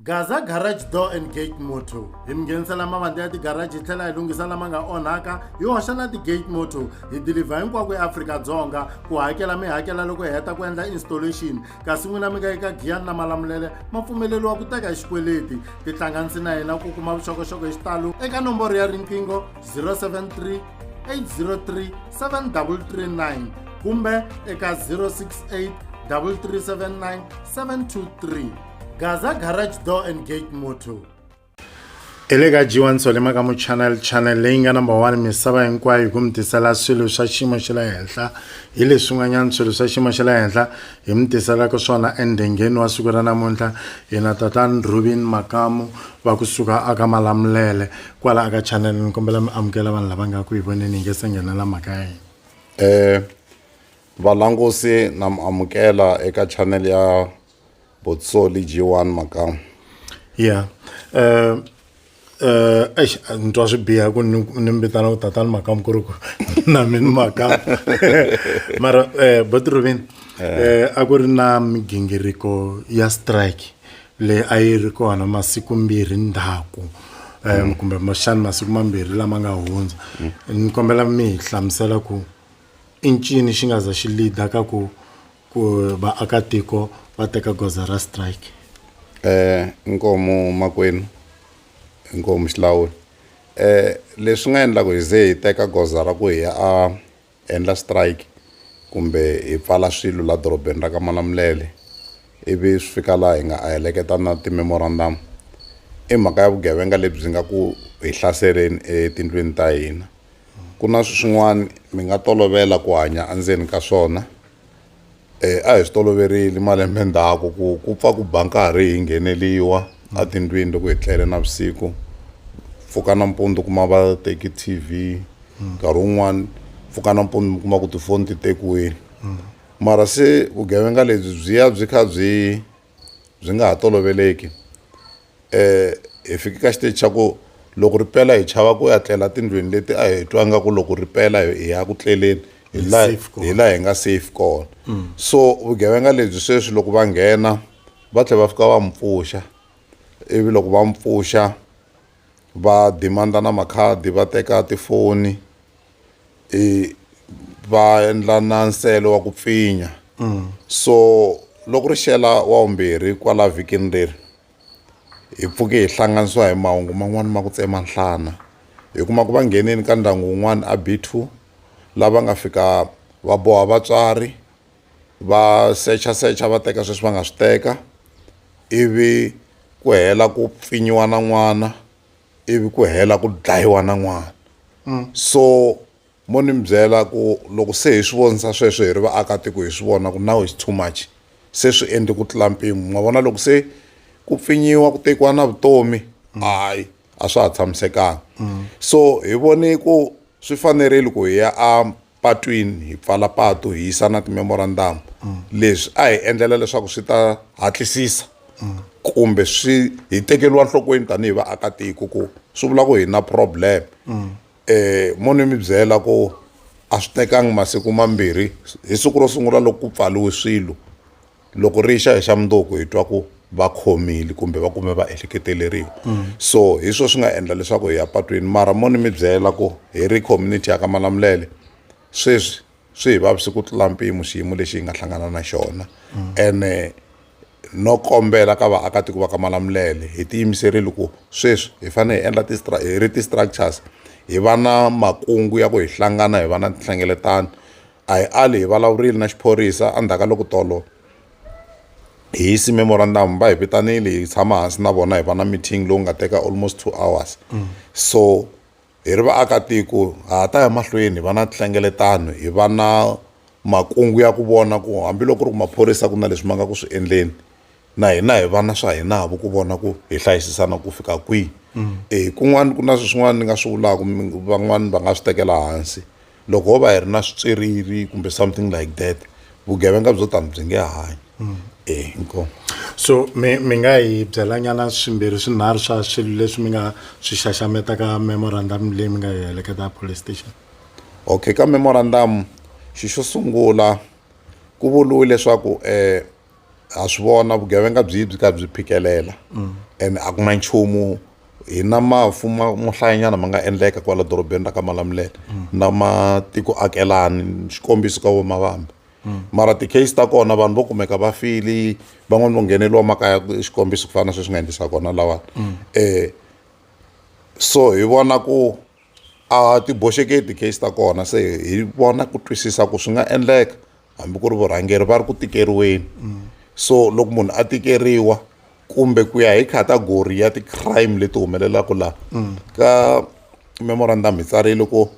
Gaza Garage Door and Gate Motor hi mi nghenisela mavandla ya tigaraji hi tlhela hi lunghisa lama nga onhaka hi hoxa na ti-gate motor hi dilivha hinkwako eAfrika-Dzonga ku hakela mi hakela loko hi heta ku endla installation kasi n'wina mi nga eka giyani na malamulele ma pfumeleriwa ku teka hi xikweleti tihlanganisi na hina ku kuma vuxokoxoko hi xitalo eka nomboro ya riqingho 073 803 7339 kumbe eka 068 3379 723 gaza garage door and gate motor hi le ka jiwa nsolema ka muchannel channel leyi nga number one misava hinkwayo hi ku mi tisela swilo swa xiyimo xa le henhla hi leswin'wanyana swilo swa xiyimo xa le henhla hi mi tiselaka swona endhengeni wa siku ra namuntlha hina tatani rubin makamu va kusuka aka malamulele kwala aka channel ni kombela mi amukela vanhu lava nga ku hi voneni hi nge se nghenela mhaka ya hina um valangusi na mi amukela eka channel ya botsoli jiwani makamu yeah uh, uh, eish ni twa swi biha ku ni ni mi vitana ku tatani makamu ku ri ku na mi ni makamu mara um eh, botiruvini um eh, a ku ri na migingiriko ya strike leyi a yi ri kona masiku mbirhi ndhaku um kumbe xani masiku mambirhi lama nga hundza mm. ni kombela mi hi hlamusela ku i ncini xi nga za xi lida ka ku ku vaakatiko va teka goza ra strike eh inkomu makwenu inkomu xilawula eh leswi nga endlaka hi ze hi teka goza ra ku hi ya a endla strike kumbe hi pfala swilo la dorobeni ra ka malamulele ivi swi fika laha hi nga a heleketa na ti-memorandum i mhaka ya vugevenga lebyi nga ku hi hlaseleni etindlwini ta hina ku na swin'wana mi nga tolovela ku hanya endzeni ka swona E, a hi swi toloverile malembe ndzhaku ku ku pfa ku ba nkarhi hi ngheneliwa a tindlwini loko hi tlele na vusiku pfuka nampundzu kuma va teki t v nkarhi wun'wani pfuka nampundzu mi kuma ku tifoni ti tekiwile mara se vugevenga lebyi byi ya byi kha byi byi nga ha toloveleki hi fike ka xiteji xa ku loko ri pela hi chava ku ya tlela tindlwini leti a hi twa nga ku loko ri pela hi ya ku tleleni hi laha hi laha hi nga safe kona mm. so vugevenga lebyi sweswi loko va nghena va tlhela va fika va mi pfuxa ivi loko va mi pfuxa va dimanda na makhadi va teka tifoni va endla na nsele wa ku pfinya mm. so loko ri xela wa vumbirhi kwala vhikini leri hi pfuke hi hlanganisiwa hi mahungu man'wani ma ku tsema nhlana hi kuma ku va nghenini ka ndyangu wun'wana a b two lava nga fika va boha vatswari va secha secha va teka sweswi va nga swi teka ivi ku hela ku pfinyiwa na n'wana ivi ku hela ku dlayiwa na n'wana mm. so mo ni mi byela ku loko se hi swi vonisa sweswo hi ri vaakatiko hi swi vona ku now is too much se swi endle ku tlula mpimo ma vona loko se ku pfinyiwa ku tekiwa na vutomi mm. hayi a swa ha tshamisekanga mm. so hi vone ku swi fanerile ku hi ya a patwini, hi pfala patu, hi yisa na timemorandamu. Leswi a hi endlela leswaku swi ta hatlisisa kumbe swi hi tekeriwa nhlokweni tanihi vaakatiko ku swi vula ku hi na problem. Um mo ni mi byela ku a swi tekangi masiku mambirhi hi siku ro sungula loko ku pfariwe swilo, loko ri xa hi xa mundzuku hi twa ku va khomile kumbe va kume va ehleketeleriwa mm. so hi swo swi nga endla leswaku hi ya patwini mara mo ni mi byela ku hi ri community ya ka malamulele sweswi swi hi vavisi ku tlula mpimo xiyimo lexi hi nga hlangana na xona mm. ene no kombela ka vaakatiko va ka malamulele hi tiyimiserile ku sweswi hi fanele hi endla hi ri ti-structures hi va na makungu ya ku hi hlangana hi va na tinhlengeletano a hi ali hi vulavurile na xiphorisa endzhaku ka loko tolo hi yisi memorandum va hi vitanile hi tshama hansi na vona hi va na meeting lowu nga teka almost two hours mm. so hi ri vaakatiko ha ta ya mahlweni hi va na nhlengeletano hi va na makungu ya ku vona ku hambiloko ri ku maphorisa ku na leswi ma nga ku swi endleni na hina hi vana swa hinavo ku vona ku hi hlayisisana ku fika kwihi mm. e kun'wana ku na swin'wana ni nga swi vulaka van'wana va nga swi tekela hansi loko ho va hi ri na switsweriri kumbe something like that vugevenga byo tani byi nge hanyi mm. e inkomu so mi mi nga hi byelanyana swimbirhi swinharhu swa swilo leswi mi nga swi xaxametaka memorandum leyi mi nga yi heleketa police station okay ka memorandum xi xo sungula ku vuriwe leswaku um ha swi vona vugevenga byi byi ka byi phikelela ene a ku na nchumu hi na mafu mo hlayanyana ma nga endleka kwala dorobeni ra ka malamulele na matiko akelani xikombiso ka vomavambe mara ti-case ta kona vanhu vo kumeka va fili van'wani vo ngheneliwa makaya xikombiso ku fana na sweswi nga endlisa kona lawani um so hi vona ku a ti boxeke ti-case ta kona se hi vona ku twisisa ku swi nga endleka hambi ku ri vurhangeri va ri ku tikeriweni so loko munhu a tikeriwa kumbe ku ya hi category ya ti-crime leti humelelaka laha ka memorandum hi tsarile ku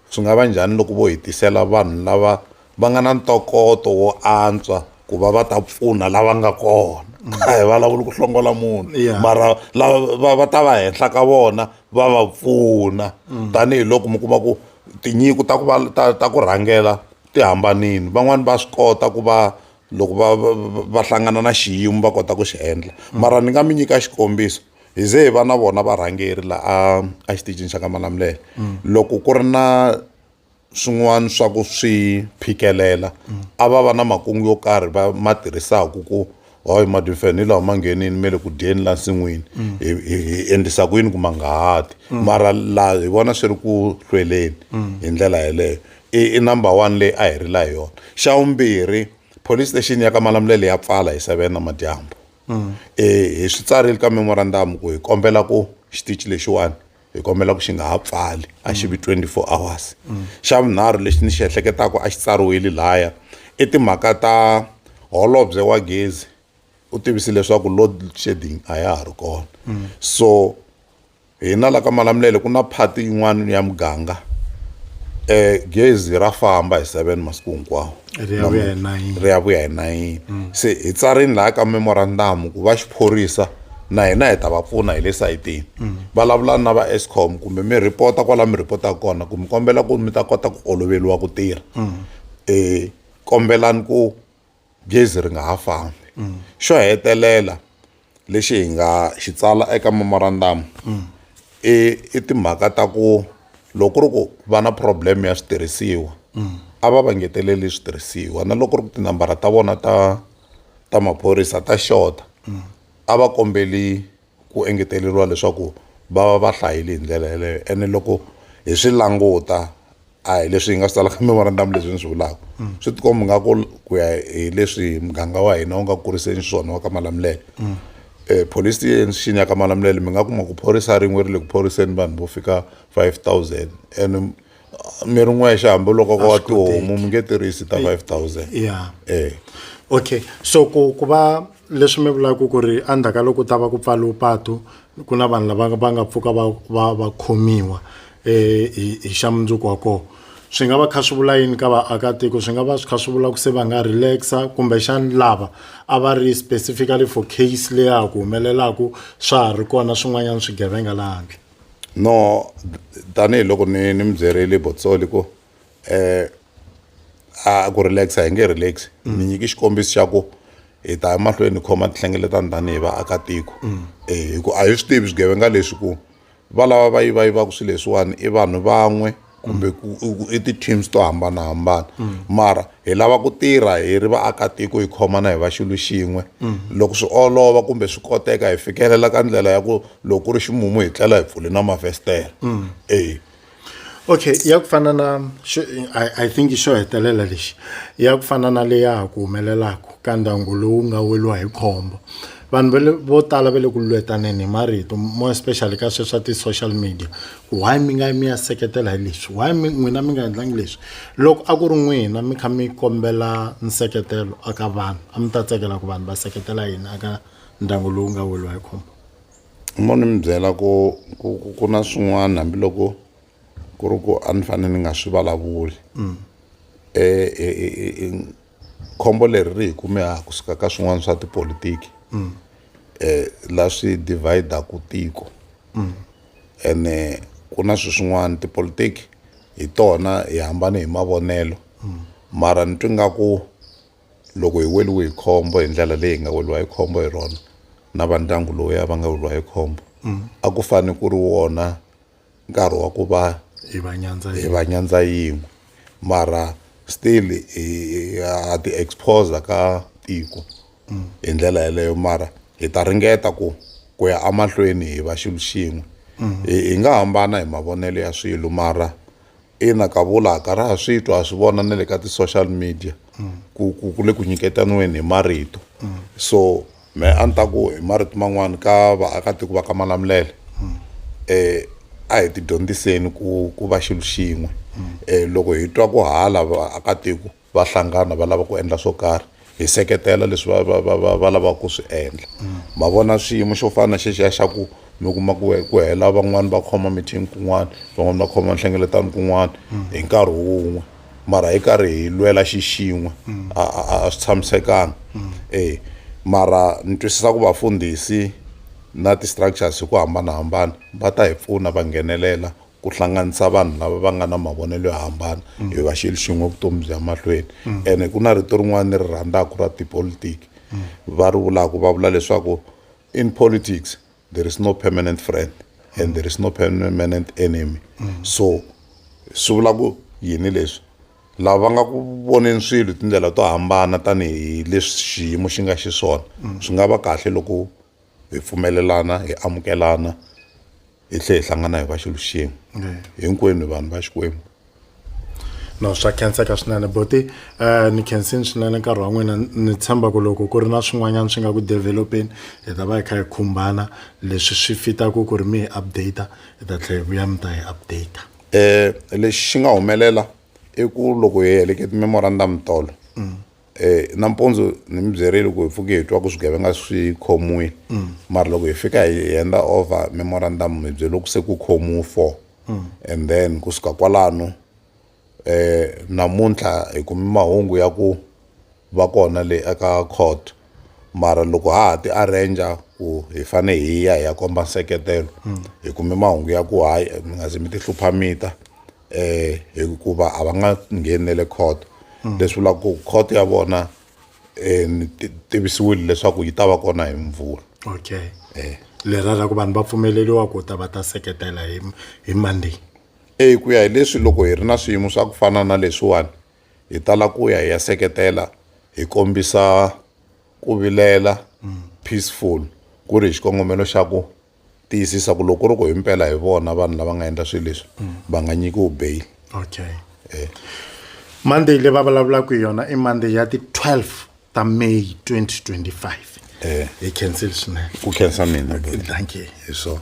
swi nga va njhani loko vo hi tisela vanhu lava va nga na ntokoto wo antswa ku va va ta pfuna lava nga kona a hi vulavuli ku hlongola munhu Yeah. mara lava va- va ta va henhla ka vona va va pfuna tanihiloko mi kuma ku tinyiku ta ku va ta, ta ku rhangela ti hambanile van'wani va swi kota ku va loko va va va hlangana na xiyimo va kota ku xi endla mara ni nga mi nyika xikombiso hi ze hi va na vona varhangeri laha a exitichini xa ka malamulele loko ku ri na swin'wana swa ku swi phikelela a va va na makungu yo karhi va ma tirhisaka ku hayi madimfene ni lawa ma nghenini me le ku dyeni la nsin'wini mm. hi endlisa ku yini ku ma nga hati mm. mara la hi vona swi ri ku hlweleni mm. hi ndlela yeleyo i number one leyi a hi ri la hi yona xa vumbirhi police station ya ka malamulele ya pfala hi seven na madyambu um hi swi tsarile ka memorandum ku hi kombela ku xitichi lexiwani hi kombela ku xi nga ha pfali a xi vi 24 hours xa vunharhu lexi ni xi ehleketaka a xi tsariwile laya i timhaka ta holobye wa gezi u tivise leswaku load shedding a ya ha ri kona so hina la ka malamulele ku na phati yin'wana ya muganga um gezi ra famba hi seven masiku hinkwawo ri ya vuya hi nayini ri ya vuya hi nayini mm. se hi tsarini laha ka memorandamu ku va xiphorisa na hina hi ta va pfuna hi le sayitini mm. vulavulani na va escom kumbe mi rhipota kwala mi rhipotaka kona ku mi kombela ku mi ta kota ku oloveriwa ku tirha um mm. e, kombelani ku gezi ri nga ha fambi xo hetelela lexi hi nga xi tsala eka memorandamu i i timhaka ta ku loko ku ri ku va na problem ya switirhisiwa a va va ngeteleli switirhisiwa na loko ku ri ku tinambara ta vona ta ta maphorisa ta xota a va kombeli ku engeteleriwa leswaku va va va hlayile hi ndlela yeleyo ene loko hi swi languta a hi leswi hi nga swi tsalaka memorandamu leswi ni swi vulaka mm. swi tikomba nga ku ku ya hi leswi muganga wa hina wu nga kuriseni swona wa ka malamulele mm. eh, police station ya ka malamulele mi nga kuma ku phorisa rin'we ri le ku phoriseni vanhu vo fika five thousand and mi ri n'wexe hambi loko ka wa tihomu mi nge tirhisi ta five thousand yeah. eh. okay so ku ku va leswi mi vulaka ku ri endzhaku ka loko ta va ku pfariwe patu ku na vanhu lava va nga pfuka va va va khomiwa hi hi xa mundzuku wa kona swi nga va kha swi vula yini ka vaakatiko swi nga va swi kha swi vula ku se va nga relax-a kumbexana lava a va ri specifically for case leyi ya ha ku humelelaka swa ha ri kona swin'wanyana swigevenga laha handle no tanihiloko ni ni mi byerile Botsoli ku. um a ku relax hi nge relax ni nyiki xikombiso xa ku hi ta emahlweni hi khoma tinhlengeletani tanihi vaakatiko um hi ku a hi swi tivi swigevenga leswi ku va lava va yivayivaka swilo leswiwani i vanhu van'we kumbe i ti-teams to hambanahambana mara hi lava ku tirha hi ri vaakatiko hi khomana hi va xilo xin'we loko swi olova kumbe swi koteka hi fikelela ka ndlela ya ku loko ku ri ximumu hi tlela hi pfule na mafestere e Okay ya ku fana na xo I think xo hetelela lexi ya ku fana na leyi ya ha ku humelelaka ka ndyangu lowu nga weriwa hi khombo vanhu va le vo tala va le ku lwetaneni hi marito more especially ka sweswi swa ti-social media ku why mi nga mi ya seketela hi leswi why mi n'wina mi nga endlangi leswi loko a ku ri n'wina mi kha mi kombela nseketelo eka vanhu a mi ta tsakela ku vanhu va seketela yini eka ndyangu lowu nga weriwa hi khombo. mo ni mi byela ku ku ku ku na swin'wana hambiloko ku ri ku a ni fanele ni nga swi vulavuli um khombo leri ri hi kume ha kusuka ka swin'wana swa tipolitiki um la swi dividaku tiko ene ku na swi swin'wana tipolitiki hi tona hi hambane hi mavonelo mara ni twi nga ku loko hi weriwe hi khombo hi ndlela leyi hi nga weriwa hi khombo hi rona na va ndyangu lowu ya va nga weriwa hi khombo mm. a ku fane ku ri wona nkarhi wa ku va hi va nyandza hi va nyandza yin'we mara still ha ti expose ka tiko mm. hi ndlela yeleyo mara hi ta ringeta ku ku ya amahlweni hi va xilo xin'we mm. hi nga hambana hi mavonelo ya swilo mara ina ka vulaka ra ha swi twa ha swi vona na le ka ti-social media ku ku ku le ku nyiketaniweni hi marito so me a ni ta ku hi marito man'wani ka vaakatiko va ka malamulele um a hi tidyondziseni ku ku va xilo xin'we um loko hi twa ku hala vaakatiko va hlangana va lava ku endla swo karhi hi seketela leswi va va va va va lavaka ku swi endla ma vona xiyimo xo fana na xexiya xa ku mi kuma ku ku hela van'wani va khoma meeting kun'wana van'wani va khoma nhlengeletano kun'wana hi nkarhi wun'we mara hi karhi hi lwela xixin'we a a a swi tshamisekanga e mara ni twisisa ku vafundhisi na ti-structures hi ku hambanahambana va ta hi pfuna va nghenelela ku hlanganisa vanhu lava va nga na mavonelo yo hambana mm. hi va xilo xin'we vutomi bya mahlweni mm. ene ku na rito rin'wana ni ri rhandzaka ra tipolitiki mm. va ri vulaka va vula leswaku in politics there is no permanent friend and there is no permanent enemy so swi vula ku yini leswi lava va nga ku voneni swilo hi tindlela to hambana tanihi leswi xiyimo xi nga xiswona swi nga va kahle loko hi pfumelelana hi amukelana hi tlhe hi hlangana hi va xilo xin'we hinkwenu vanhu va xikwembu no swa khenseka swinene boti um ni khensini swinene nkarhi wa n'wina ni tshemba ku loko ku ri na swin'wanyana swi nga ku developeni hi ta va hi kha hi khumbana leswi swi fitaku ku ri mi hi update hi ta tlhela hi vuya mi ta hi update um lexi xi nga humelela i ku loko hi helekete memorandum tolo mm. eh nampundzu ni mi byerile ku hi pfuke hi twa ku swigevenga swi khomiwile mm. mara loko hi fika hi henda over memorandum mi byele ku se ku khomiwe four mm. and then ku suka kwalano eh namuntlha hi kumi mahungu ya ku va kona le eka court mara loko ha ha ti arranger ku hi fane hi ya hi ya komba nseketelo mm. hi kume mahungu ya ku hayi mi nga ze mi ti hlupha mita um hikuva a va nga ngheni ne le court mm. leswi vulaka ku court ya vona um ni tivisiwile leswaku yi ta va kona hi mvula okay um lera ra ku vanhu va pfumeleriwa ku ta va ta seketela hi hi monday eyi ku ya hi leswi loko hi ri na swiyimo swa ku fana na leswiwani hi tala ku ya hi ya seketela hi kombisa ku vilela peaceful ku ri hi xikongomelo xa ku tiyisisa ku loko ri ku himpela hi vona vanhu lava nga endla swilo leswi mm. va nga nyikiwi bail okay eh. monday leyi va vulavulaka hi yona i monday ya ti-12 ta may 2025 eh. hi cancel swinene ku khensa mina dankie hi swona